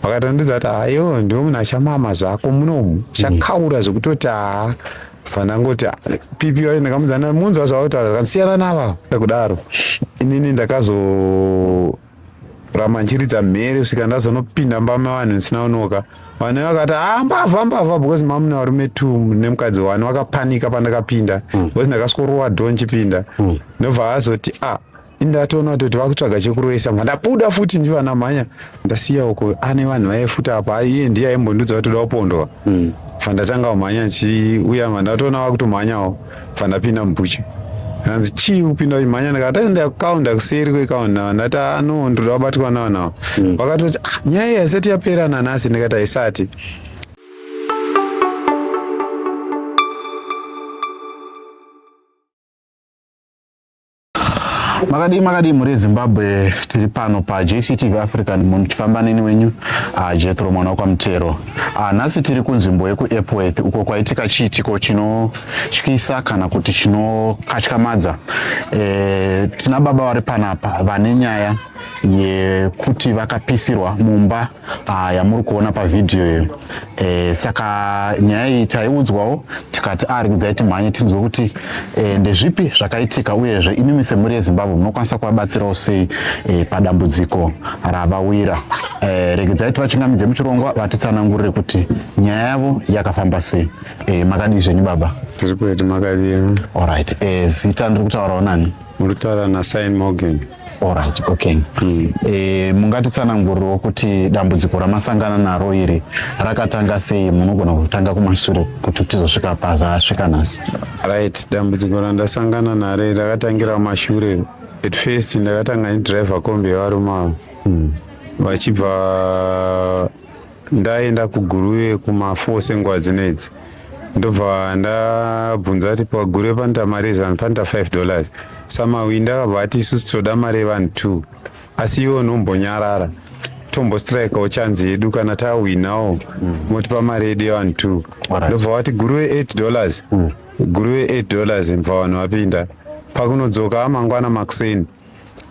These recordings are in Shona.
vakatondidza kuti hayo ndiwe munhu achamama zvako munomu chakaura zvekutoti haa fanangoti pipi wacho ndakamudzana munzwa zvavautaura zvakasiyana nava kudaro inini ndakazoramba ndichiridza mhere kusvika ndazonopinda mbama vanhu ndisina unoka vanhu vakati haa ah, mbavha mbavha because mamuna varume t nemukadzi wani vakapanika pandakapinda hmm. because ndakasvikorowa do ndichipinda hmm. ndobva azoti a ah, ndatoona kuti vakutsvaga chekuroesa mva ndabuda futi ndivana mhanya ndasiya uko ane vanhu vaifuta apa iye ndiye aimbondudza kuti toda kupondwa mm. bva ndatanga umhanya chiuya mva ndatoona vakutomhanyawo bva ndapinda mubucha hanzi chii kupinda uchimhanya ndakati ndakaunda kuseri kwekaunda ndati ano ah, ndoda kubatwa navanawo mm. vakatoti ah, nyaya iyi haisati yapera nanhasi ndikati haisati makadii makadii mhuri yezimbabwe tiri pano pajctv african munhu muchifamba neni wenyu ah, jethro mwana wakwamutero ah, nhasi tiri kunzvimbo yekuepworth uko kwaitika chiitiko chinotyisa kana kuti chinokatyamadza e, tina baba vari panapa vane nyaya yekuti vakapisirwa mumba Ah, yamuri kuona pavhidhiyo iyo e, saka nyaya iyi taiudzwawo tikati arikudzai ah, timhanye tinzwe kuti e, ndezvipi zvakaitika uyezve imimi semhuri yezimbabwe munokwanisa kuvabatsirawo sei e, padambudziko ravawira e, regedzai tivachingamidze muchirongwa vatitsanangurire kuti nyaya yavo yakafamba sei e, makadii zvenyu baba tiri kuiti makadii orit e, zita ndiri kutaurawo nani muri kutaura nasin morgan Alright, okay. Mm. E, mungatitsanangurirewo kuti dambudziko ramasangana naro iri rakatanga sei munogona kutanga kumashure kuti tizosvika pazvasvika nhasi right dambudziko randasangana naro iri rakatangira kumashure at first ndakatanga ndidriver kombi yevarume avo mm. vachibva ndaenda kuguruve kumafo senguva dzino idzi ndobva ndabvunza kuti paguruve panoita mari zanu panoita 5 dollars samawindi akabva ati isusu tinoda mari yevanhu two asi iwe unombonyarara tombostrikawo chanzi yedu kana tawinawo motipa mari yedu yevanhu two Alright. ndobva wati guruve 8 dollars guruve 8 dollars mva vanhu vapinda pakunodzoka amangwana makuseni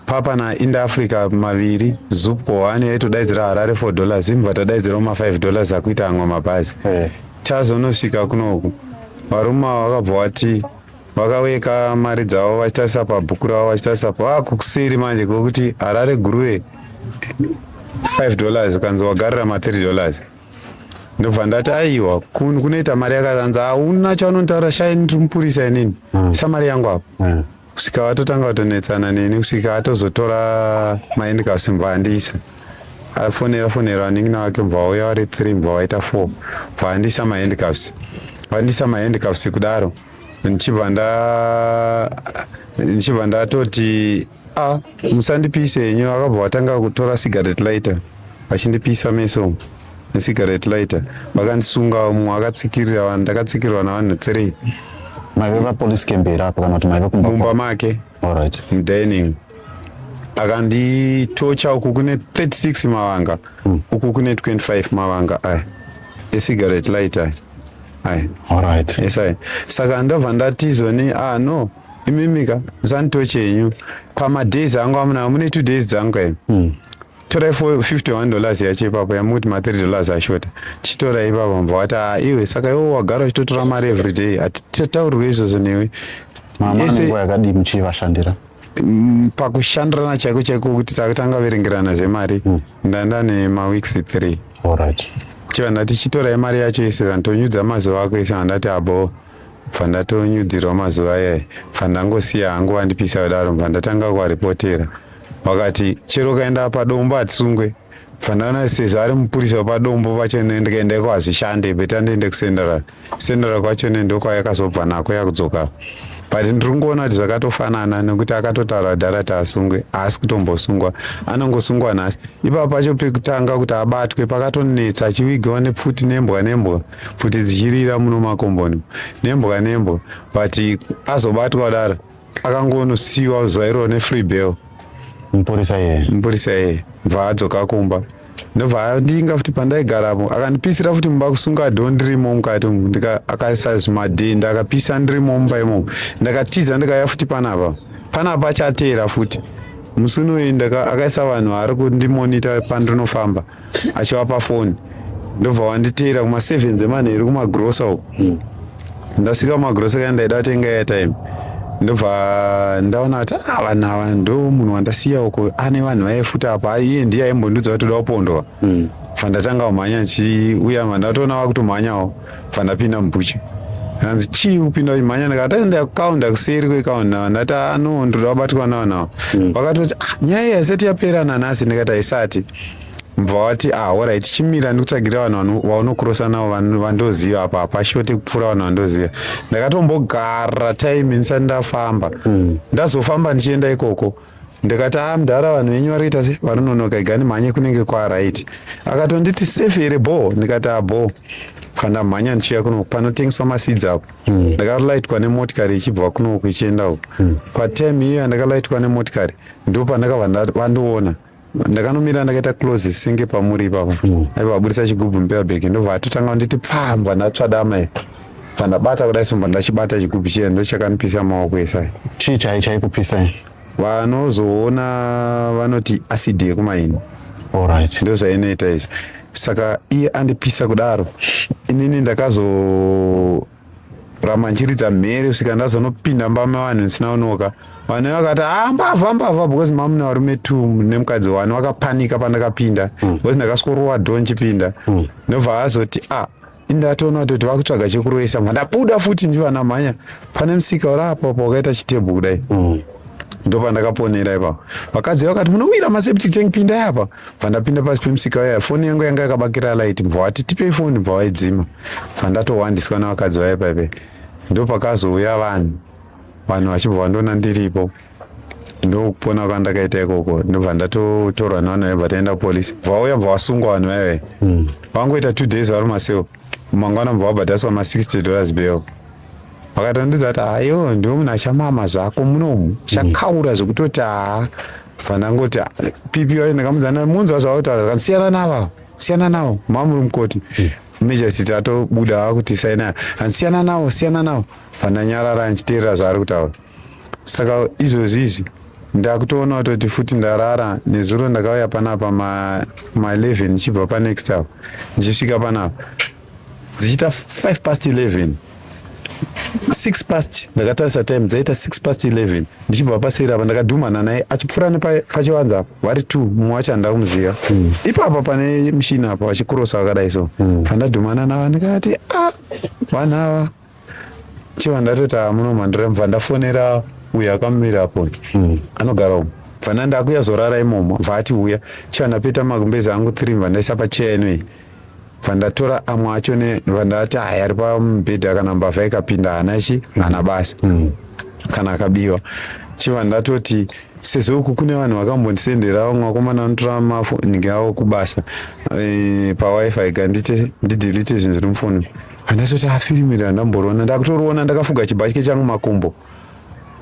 papa na inda africa maviri zupco one yaitodaidzira harare four dollars imva tadaidzirawo mafive dollars akuita amwe mabhazi eh. chazonosvika kunoku varume ava vakabva wati vakaweka mari dzavo vachitarisa pabhuku ravo vachitarisa vakukuseri manje kwekuti harare guruve five dollars kanzi wagarira mathree dollars ndobva ndati aiwa kunoita mari yakaanzi hauna chaunontaura shainiri mupurisa inini hmm. samari yangu apo hmm. kusvika vatotanga kutonetsana neni kusvika atozotora maendcas mva andisa afonera fonera vanin'ina vake mva vauya vari three mva vaita four mva andisa maendcas vandisa maendcas kudaro ndichibva nda ndichibva ndatoti a musandipise henyu akabva vatanga kutora cigarette lighter vachindipisa meso necigarette lighter vakandisungawo mumwe akatsikirira vanhu ndakatsikirwa navanhu three maive papolice camp here apo kana kuti maive kumba mumba make alright mudining akanditocha uku kune 36 mavanga mm. uku kune 25 mavanga aya ecigarette lighter aya alright yes aya saka ndobva ndatizoni ah no imimika zanto chenyu pamadays angu amuna mune two days dzangu imi hmm. torai 51 dollars yacho ipapo yamuti ma 3 dollars ashota chitorai ipapo mva wati ah, iwe saka iwo wagara uchitotora mari every day hatitaurirwe izvozvo newe mamanenguva yakadii muchivashandira mm, pakushandirana chaiko chaiko kuti takutanga verengerana zvemari hmm. ndanda nemaweeks three chiva ndati chitorai mari yacho ise zantonyudza mazuva ako ise vandati aboo ah, bva ndatonyudzirwa mazuva ayai bva ndangosiya hangu vandipisa kudaro bva ndatanga kuvaripotera vakati chero ukaenda padombo hatisungwe bva ndaona sezvo ari mupurisa wepadombo vacho ndikaenda iko hazvishande beta ndiende kusenderal senderal kwacho nendokwayakazobva nako yakudzoka but ndiri kungoona kuti zvakatofanana nekuti akatotaura dhara taasungwe haasi kutombosungwa anongosungwa nhasi ipapo pacho pekutanga kuti abatwe pakatonetsa achivigiwa nepfuti nembwa nembwa pfuti dzichirira muno makomboni nembwa nembwa but azobatwa daro akangonosiwa zuva iroro nefree bell mupurisa iye mupurisa iye bva adzoka kumba ndobva andinga futi pandaigaramo akandipisira futi mumba kusunga dho ndirimo mukati umu akaisa zvimadhenda akapisa ndirimo mumba imomo ndakatiza ndikauya futi panapa panapa achateera futi musi unoenda akaisa vanhu ari kundimonita pandinofamba achivapa foni ndobva wanditeera kuma seven dzemanheru kumagrosa uko hmm. ndasvika kumagrosa kaya ndaida atenga airtime ndobva ndaona kuti ah, vanhu ava ndo munhu wandasiya uko ane vanhu vaifuta apa iye ndiye aimbondiudza kuti toda kupondwa hmm. bva ndatanga kumhanya ndichiuya ma ndatoona vakutomhanyawo bva ndapinda mubucha hanzi chii kupinda uchimhanya ndikati enda kukaunda kuseri kwekaunda vandati ano ah, ndoda kubatwa nawo nawo hmm. vakatoti ah, nyaya yasati yapera nanhasi ndikati haisati mva wati ah horait chimira ndikutsvagira vanhu vaunokurosa navo vandoziva apa hapashote kupfuura vanhu vandoziva ndakatombogara time ndisati ndafamba hmm. ndazofamba ndichienda ikoko ndikati a ah, mdhara vanhu venyu vari kuita se vanononoka igani mhanye kunenge kwarit akatonditi safe here bho ndikati a ah, bho pandamhanya ndichiuya kuno panotengeswa masidzi apo hmm. ndakalaitwa nemotikari ichibva kunoku ichienda uku hmm. patime iyo yandakalaitwa nemotikari ndo pandakabva vandiona ndakanomira ndakaita close singe pamuri ipapo mm. aiva aburitsa chigubhu mupepa bag ndobva atotanga kunditi pfambwa ndatsvada amai bva ndabata kudai somba ndachibata chigubhu chiya ndochakanipisa maoko esai chii chai chaikupisai vanozoona vanoti acid yekumaini allright ndozvainoita izvo saka iye andipisa kudaro inini ndakazo ramanjiridza mhere kusvika ndazonopinda mbama vanhu ndisina unoka vanhu vakati ah mbavha mbavha because mamuna varume t nemukadzi wani vakapanika pandakapinda mm. because ndakasworowa do ndichipinda mm. ndobva azoti a ah, indatoona kutoti vakutsvaga chekuroisa mva ndabuda futi ndivana mhanya pane musika uraapa pa wakaita chitebhu kudai mm. ndopandakaponera ipapo vakadzi vakati munowira maseptic tank pindai apa pandapinda pasi pemusika waya foni yangu yanga yakabakira light mva wati tipei foni mva waidzima mva ndatohwandiswa navakadzi vaya paipe ndopakazouya vanhu vanhu vachibva vandoona ndiripo ndokupona kwandakaita ikoko ndobva ndatotorwa navanhu vaibva taenda kupolisi bva vauya bva vasungwa vanhu vaive vangoita hmm. two days vari maseo mangwana bva vabhadhaswa ma60 dollars beo vakatondiudza kuti hayo ndiwe munhu achamama zvako munomu chakaura zvekutoti haa fanangoti pipi wacho ndakamudzana munzwa zvavakutaura zvakanzi siyana navo siyana navo mamuri mukoti hmm. majesty atobuda vakuti saina hanzi siyana navo siyana navo fananyarara ndichiteerera zvaari kutaura saka izvozvi izvi ndakutoona kutoti futi ndarara nezuro ndakauya panapa ma11 ndichibva panext hour ndichisvika panapa dzichiita 5 past 11 6 past ndakatarisa time dzaita 6 past 11 ndichibva paseri apa ndakadhumana naye achipfuura nepachivanza apo vari two mumwe wacho handida kumuziva mm. ipapa pane mushini apa vachikurosa vakadai so mm. andadhumana navo ndikati a ah, vanhu ava chiva ndatoita muno mandira mva ndafonera uyo akamira apo mm. anogara umu vana ndakuya zorara imomo vati uya chandapeta magumbezi angu three vandaisa pacheya ino iyi vandatora amwe acho ne vandati haya ari pamubhedha kana mbavha ikapinda hana chi hana basa mm. kana akabiwa chiva ndatoti sezvo uku kune vanhu vakambondisenderawo mwakomana anotora mafo ndinge avo kubasa e, pawifi gandite ndidelete zvinhu zviri mufoni Handatoti afirimire handamboriona ndakutoriona ndakafuga chibhatye changu makumbo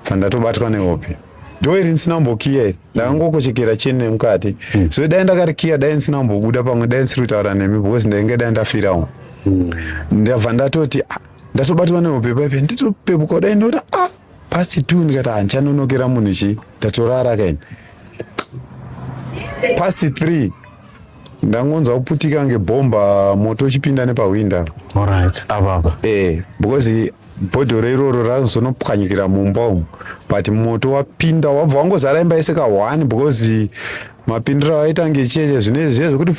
handatobatwa nehope dho iri ndisina kumbokiya iri ndakangokochekera cheni nemukati mm. so dai ndakarikiya dai ndisina kumbobuda pamwe dai ndisiri kutaura nemi because ndainge dai ndafirawo mm. ndabva ndatoti ah, ndatobatwa nehope paipe nditopepuka dai ndoti ah pasi two ndikati handichanonokera ah, munhu chii ndatorara kaini pasi three ndangonzwa kuputika ngebhomba moto uchipinda nepahwinda Alright, apa apa. eh because bhodhoro iroro razonopwanyikira mumba umu but moto wapinda wabva wangozara imba yese kahwani because mapindiro awaita ngecheche zvinezvi zviye zvekuti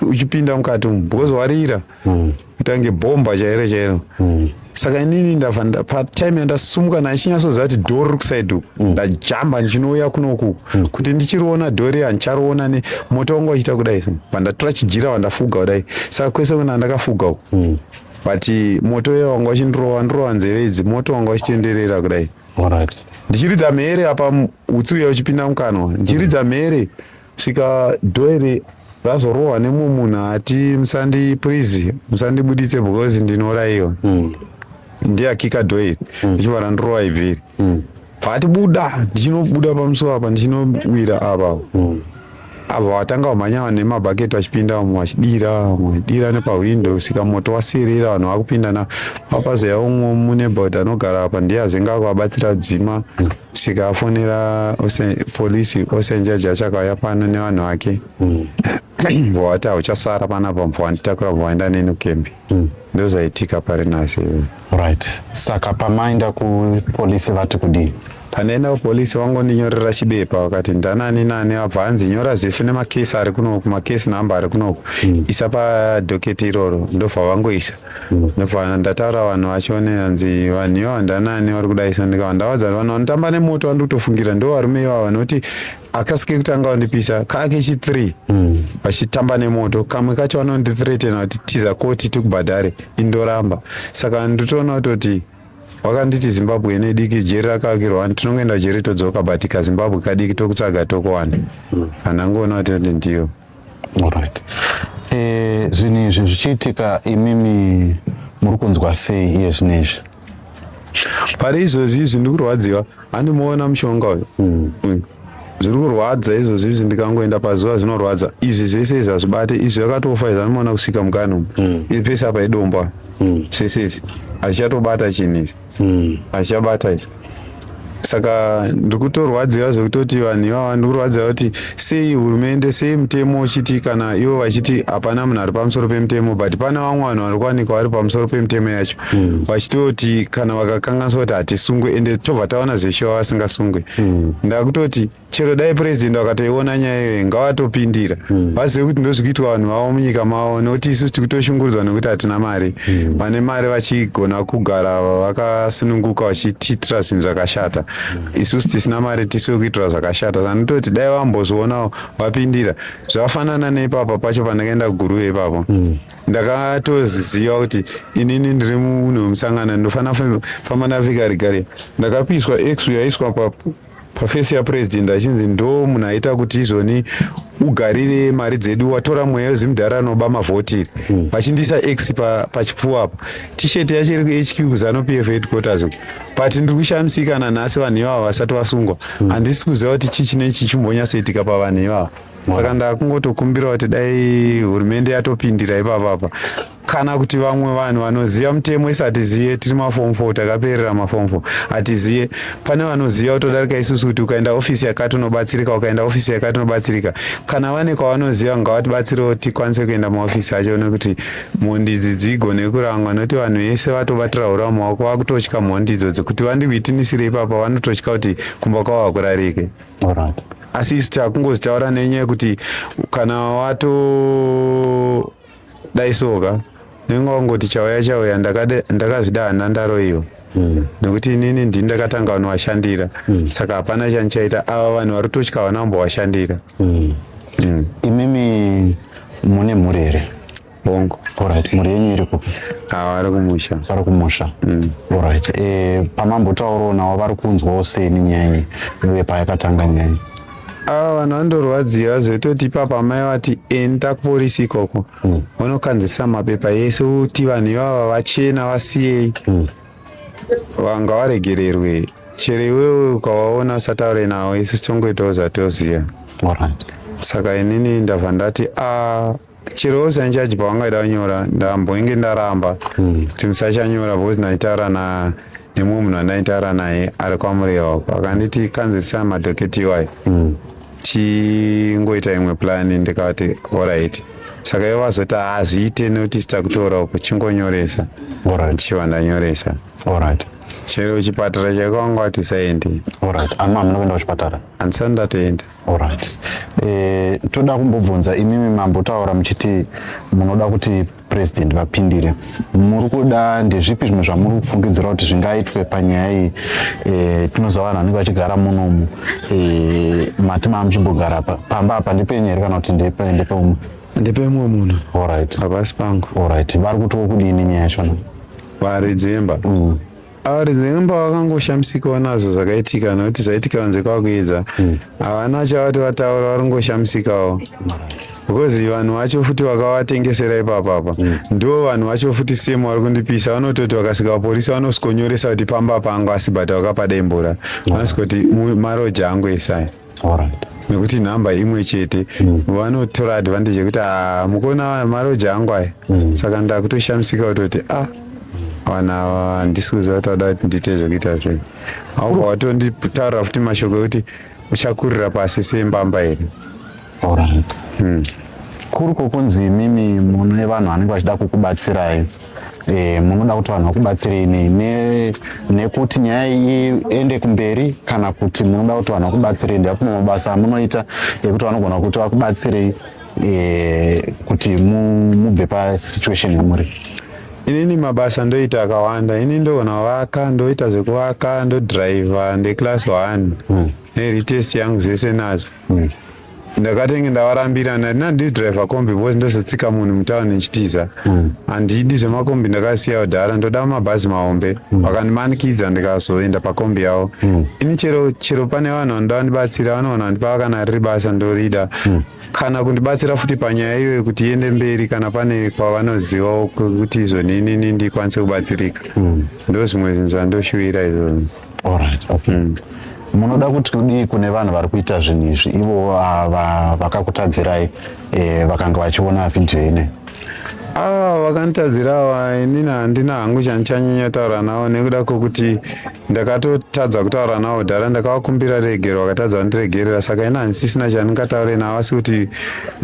uchipinda mukati umu because warira mm. itange bhomba chairo chairo mm. saka inini ndava patime yandasumuka ndachinyasoziva kuti dhori ri kusaidi uku mm. ndajamba ndichinouya kunoku mm. kuti ndichiriona dhori handichariona ne moto wangu wachiita kudai vandatora chijira vandafuga kudai saka kwese kuna ndakafuga uku mm. but moto uya wanga wachindirova ndirova nzeve idzi moto wanga wachitenderera kudai ndichiridza mhere apa utsi uya uchipinda mukanwa ndichiridza mhere mm. kusvika dhoeri razorohwa nemumwe munhu ati musandi please musandibuditse because ndinoraiwa mm. ndiye akika dhoeri mm. ndichibva randirova ibviri mm. paati buda ndichinobuda pamusuwo apa ndichinowira apa mm avo vatanga kumhanya vanhu nemabhaketi vachipinda vamwe vachidira vamwe vachidira nepahwindo kusvika moto wasirira vanhu vakupinda na papazeya umwe munebod anogara apa ndiye azenga kuvabatsira dzima tikafonera polisi osenjaji achakauya pano nevanhu vake mm. mvua wati hauchasara panapa mvua nditakura mvua enda neni kukembi mm. ndozaitika pari nasi right saka pamaenda kupolisi vati kudii pandaenda kupolisi vangondinyorera chibepa vakati ndanani nani abva hanzi nyora zvese nemakesi ari kunoku makesi number ari kunoku mm. isa padhoketi iroro ndobva vangoisa Ndofanira ndataura vanhu vacho neanzi vanhu ivo handanani vari kudaisa ndikava ndavadza kuti vanhu vanotamba nemoto vandi kutofungira ndo varume ivavo vanoti akasike kutanga vandipisa kake chi three hmm. vachitamba nemoto kamwe kacho vanondithreatena kuti tiza koti tikubhadhare indoramba saka nditoona kutoti wakanditi zimbabwe ine diki jeri rakavakirwa wani tinongoenda jeri todzoka but kazimbabwe kadiki tokutsvaga tokowana hmm. anangoona kuti ndiyo Alright. Eh, zvinhu izvi zvichiitika imimi muri kunzwa sei iye zvino izvi? pari izvozvi izvi ndiri kurwadziwa handimuona mushonga uyu Mm. Mm. zviri kurwadza izvozvi izvi ndikangoenda pazuva zvinorwadza izvi zvese izvi hazvibate izvi zvakatofa izvi anomaona kusvika mukani umu Mm. iri pese apa idomba Mm. zvese izvi hazvichatobata chinhu izvi mm. achabata izvo saka ndikutorwadziwa zvekutoti vanhu ivava ndikurwadziwa kuti sei hurumende sei mutemo uchiti kana ivo vachiti hapana munhu ari pamusoro pemutemo but pana vamwe vanhu vari kuwanikwa vari pamusoro pemutemo yacho hmm. vachitoti kana vakakanganiswa kuti hatisungwe ende tobva taona zveshuva vasingasungwe hmm. ndakutoti chero dai president vakatoiona nyaya iyoyi ngavatopindira mm. vazive kuti ndozvikuitwa vanhu vavo munyika mavo nokuti isu tiri kutoshungurudzwa nokuti hatina mari mm. vane mm. mari vachigona kugara vakasununguka vachitiitira zvinhu zvakashata mm. isusu tisina mari tisu vekuitira zvakashata sanototi dai vambozvionawo vapindira zvakafanana neipapa pacho pandakaenda kuguruve ipapo mm. ndakatoziva kuti inini ndiri munhu wemusangano ndinofanira famba navikarigari ndakapiswa x yaiswa pafesi yapurezidendi achinzi ndo munhu aita kuti izvoni ugarire mari dzedu watora mweya wezimudhara anoba mavhoti hmm. vachindiisa x pachipfuwa apa tisheti yacho iri kuhq kuzano p f headquarters but ndiri kushamisika nanhasi vanhu ivava vasati vasungwa hmm. handisi kuziva kuti chii chine chichimbonyasoitika pavanhu ivava saka ndakungotokumbira kuti dai hurumende yatopindira ipapapa kana kuti vamwe vanhu vanoziva mutemo isi hatiziye tiri mafom fo takaperera mafom fo hatiziye pane vanoziva kutodarika isusu kuti ukaenda ofisi yakati unobatsirika ukaenda ofisi yakati unobatsirika kana vane kwavanoziva ngavatibatsirewo tikwanise kuenda maofisi acho nekuti mhondi idzi dzigone kurangwa nokuti vanhu vese vatobatira hura mumaoko vakutotya mhondi idzo dzekuti vandikuitinisire ipapa vanototya kuti kumba kwavo hakurarike asi isu takungozitaura nenyaya yekuti kana wato dai soka ndinenge wangoti chauya chauya ndakazvidana ndaroiwa mm. nekuti inini ndini ndakatanga vanovashandira mm. saka hapana chandichaita ava vanhu vari kutotya vana vambovashandira mm. mm. imimi mune mhuri here bongo orit mhuri yenyu iri kupi vari kumusha vari kumusha mm. orit e, eh, pamambotaurawo navo vari kunzwawo seni nyanyi uye payakatanga nyanyi ava vanhu vandorwadziwa vazoitoti ipapa amai vati enda kuporisi ikoko mm. vanokanzirisa mapepa yese uti vanhu ivava vachena vasiyei mm. vanga varegererwe chero iwewe ukavaona usataure navo isu tongoitawo zvatoziva saka inini ndabva ndati a ah, chero usina chaji pawangaida kunyora ndamboinge ndaramba hmm. kuti musachanyora because ndaitaura na nemumwe munhu andaitaura naye ari kwamurehwa uko akanditi kanzirisa madhoketi iwayo hmm. tingoita imwe plani ndikati orit saka ivo vazoti hazviite nekuti sita kutora uko chingonyoresa ndichiva ndanyoresa chero chipatara chaiko wanga wati usaendi andisati ndatoenda Alright. Eh, toda kumbobvunza imimi mambo taura muchiti munoda kuti president vapindire muri kuda ndezvipi zvimwe zvamuri kufungidzira kuti zvingaitwe panyaya iyi eh, tinoziva vanhu vanenge vachigara munomu eh, mati maamuchimbogara pa pamba apa ndepenyu here kana kuti ndepeumwe ndepemumwe munhu Alright. havasi pangu Alright. vari kuti wokudini nyaya yachona varidzimba mm. Arizemba vakangoshamisikawo nazvo zvakaitika nokuti zvaitika vanze kwakuedza hmm. havana chavati vataura vari kungoshamisikawo because vanhu vacho futi vakavatengesera ipapapa hmm. ndo vanhu vacho futi same vari kundipisa vanototi vakasvika vaporisa vanosikonyoresa kuti pamba pangu asi but vakapada imbura hmm. vanosikoti maroja angu esai Alright. nekuti nhamba imwe chete mm. vanotora advantage yekuti ah, mukuona maroja angu aya mm. saka ndakutoshamisika kutoti ah vana handisi kuziva kuti vada kuti ndiite zvekuita sei auka watonditaurira futi mashoko ekuti uchakurira pasi sembamba here hmm. kuri kwokunzi imimi mune vanhu vanenge vachida kukubatsirai e, munoda kuti vanhu vakubatsirei nei ne, nekuti nyaya iende kumberi kana kuti munoda kuti vanhu vakubatsirei ndevapima mabasa amunoita ekuti vanogona kuti vakubatsirei e, kuti mubve pasituation yamuri inini mabasa ndoita akawanda ini ndogona kuvaka ndoita zvekuvaka ndodriver ndeclass one mm. neretest yangu zvese nazvo mm. ndakatenge ndavarambira ndandina ndidriver kombi bcause ndozotsika munhu mutown ndichitiza mm. handidi zvemakombi ndakasiya kudhara ndoda mabhazi mahombe mm. vakandimanikidza ndikazoenda pakombi yavo mm. ini chero chero pane vanhu vanoda vandibatsira vanoona vandipa kana riri basa ndorida mm. kana kundibatsira futi panyaya iyo yekuti iende mberi kana pane kwavanozivawo kuti izvo ninini ndikwanise kubatsirika mm. ndozvimwe zvinhu zvandoshuvira izvozvo Alright, okay. Mm. Munoda kuti kudii kune vanhu vari kuita zvinhu izvi ivo ah, vakakutadzirai eh, vakanga vachiona vhidhiyo ine ava ah, vakanditadzira ava inini handina hangu chandichanyanya taura navo nekuda kwokuti ndakatotadza kutaura navo dhara ndakavakumbira regero vakatadza vandiregerera saka ini handisisina chandingataure navo asi kuti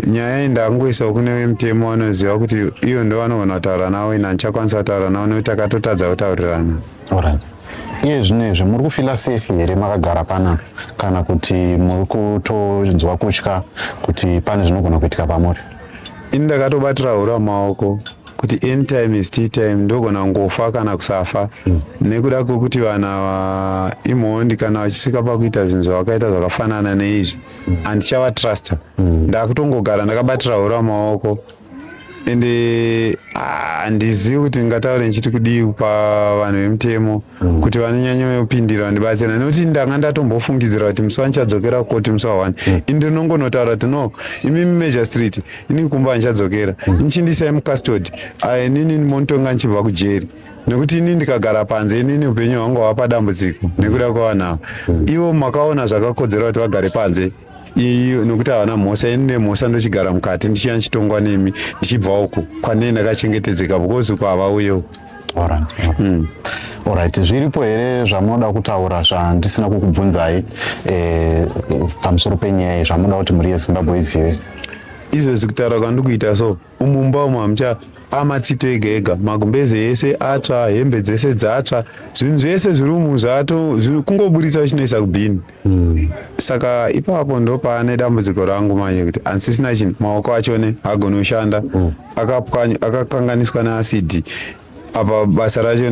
nyaya iyi ndakungoisawo kune vemutemo vanoziva kuti ivo ndo vanogona kutaura navo ini handichakwanisa kutaura navo nekuti takatotadza kutaurirana Alright. Iye zvino izvi muri kufila safe here makagara pana kana kuti muri kutonzwa kutya kuti pane zvinogona kuitika pamuri? Ini ndakatobatira hura maoko kuti any time is tea time ndogona kungofa kana kusafa mm. nekuda kwekuti vanhu ava imhondi kana vachisvika pakuita zvinhu zvavakaita zvakafanana neizvi mm. andichavatrusta mm. ndakutongogara ndakabatira hura maoko ende handizivi ah, kuti ndingataure ndichiti kudii kupa vanhu vemutemo mm. kuti vanonyanyopindira vandibatsira nekuti ndanga ndatombofungidzira kuti musi wanichadzokera koti musi wawani mm. ini ndinongonotaura kuti no imimi major street ini kumba vanichadzokera mm. inichindisai mucustody ah, inini monotonga ndichibva kujeri nekuti ini ndikagara panze inini upenyu hwangu hwava padambudziko nekuda kwavanhu ava ivo makaona zvakakodzera kuti vagare panze iyu nokuti havana mhosva ini ne mhosva ndochigara mukati ndichiya ndichitongwa nemi ndichibva uku kwanei ndakachengetedzeka because uku havauye uku Alright, alright. Mm. Alright, zviripo here zvamunoda kutaura zvandisina kukubvunzai eh, pamusoro penyaya iyi zvamunoda kuti mhuri yezimbabwe izive izvezvi kutaura kwandikuita so umu mumba umu hamucha amatsito ega ega magumbeze ese atsva hembe dzese dzatsva zvinhu zvese zviri umu zvato kungoburitsa uchinoisa kubhini mm. saka ipapo ndopaane dambudziko rangu manje kuti handisisina chinhu maoko achone agoni kushanda mm. akapwanya akakanganiswa neasidi apa basa racho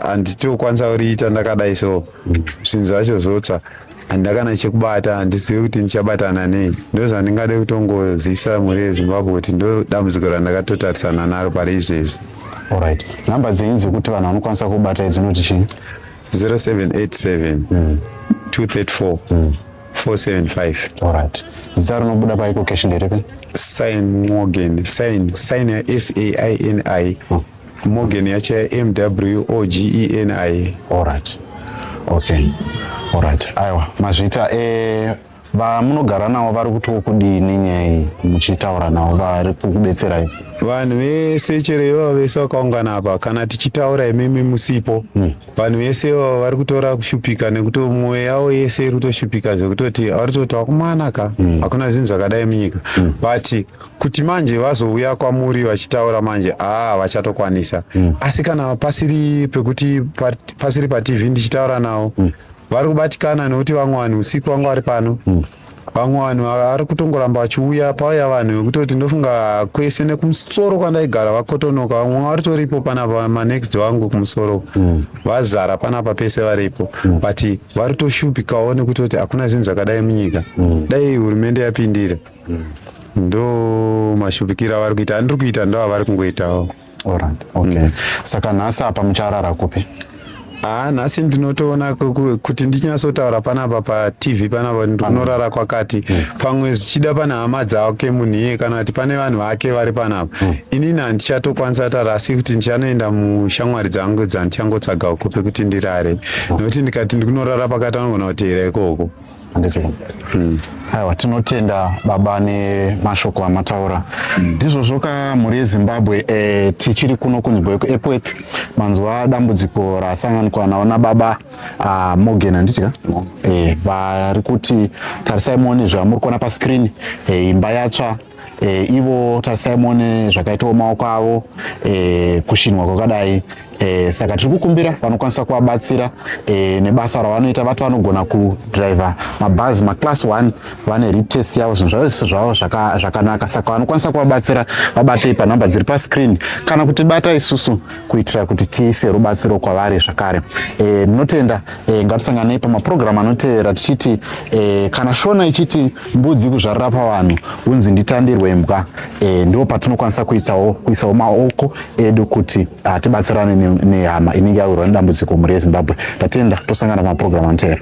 handiti okwanisa kuriita ndakadai so zvinhu zvacho zvotsva handakana chekubata handizivi kuti ndichabatana nei ndozvandingade kutongozisa mhuri yezimbabwe kuti ndodambudziko randakatotarisana naro pari izvezvi orit number dzenyu dzekuti vanhu vanokwanisa kubata idzinoti chii 0787 234 mm. 475 alright zita rinobuda paiko cash nderipi sign morgan sign sign ya s a i n i hmm. morgan yacho ya m w o g e n i alright okay alright aiwa mazvita e eh, vamunogara navo vari kutiwo kudini nyaya iyi muchitaura navo vari kukubetserai vanhu vese chero ivavo vese vakaungana apa kana tichitaura imimi musipo hmm. vanhu vese ivavo vari kutora kushupika nekuti mwoyo yavo yese iri kutoshupika zvekutoti vari kutoti wakumana ka mm. hakuna mm. zvinhu zvakadai munyika mm. but kuti manje vazouya kwamuri vachitaura manje aa ah, vachatokwanisa mm. asi kana pasiri pekuti pasiri patv ndichitaura navo mm. vari kubatikana nekuti vamwe vanhu usiku vangu vari pano mm. vamwe vanhu vari kutongoramba vachiuya pauya vanhu vekutoti ndofunga kwese nekumusoro kwandaigara vakotonoka vamwe varitoripo panapa manext vangu kumusoro mm. vazara panapa pese varipo mm. but vari toshupikawo nekutoti hakuna zvinhu zvakadai munyika mm. dai hurumende yapindira ndo mashupikiro avari kuita andiri kuita ndo avari kungoitawo Alright, okay. Mm. Saka nhasi apa mucharara kupi? Ah, nhasi ndinotoona kuti ndichinyatsotaura panapa patv panapa ndinorara kwakati mm. pamwe zvichida pane hama dzake munhu iye kana kuti pane vanhu vake vari panapa mm. inini handichatokwanisa tara asi kuti ndichanoenda mushamwari dzangu dzandichangotsvagawo kupi kuti ndirare mm. nokuti ndikati ndikunorara pakati anogona kuteera ikoko handiti mm. aiwa tinotenda baba nemashoko amataura mm. ndizvozvo ka mhuri yezimbabwe e, tichiri kuno kunzvimbo yekuepworth manzwa dambudziko rasanganikwa nawo nababa uh, morgan handiti ka mm. e, vari kuti tarisai muone zvamuri kuona pascreen e, imba yatsva e, ivo tarisai muone zvakaitawo maoko avo e, kushinwa kwakadai e, saka tiri kukumbira vanokwanisa kuvabatsira e, nebasa ravanoita vati vanogona kudriver mabhazi maclass 1 vane retest yavo zvinhu zvavese zvavo zvakanaka saka vanokwanisa kuvabatsira vabatei panhamba dziri pascreen kana kuti bata isusu kuitira kuti tiise rubatsiro kwavari zvakare e, ndinotenda e, e, ngatisanganei pamapurogiramu anotevera tichiti e, kana shona ichiti mbudzi kuzvarira pavanhu unzi nditandirwe imbwa e, ndo patinokwanisa kuitawo kuisawo maoko edu kuti ah, tibatsirane nehama inenge yawirwa nedambudziko mhuri yezimbabwe tatenda tosangana pamapurogiramu anotevera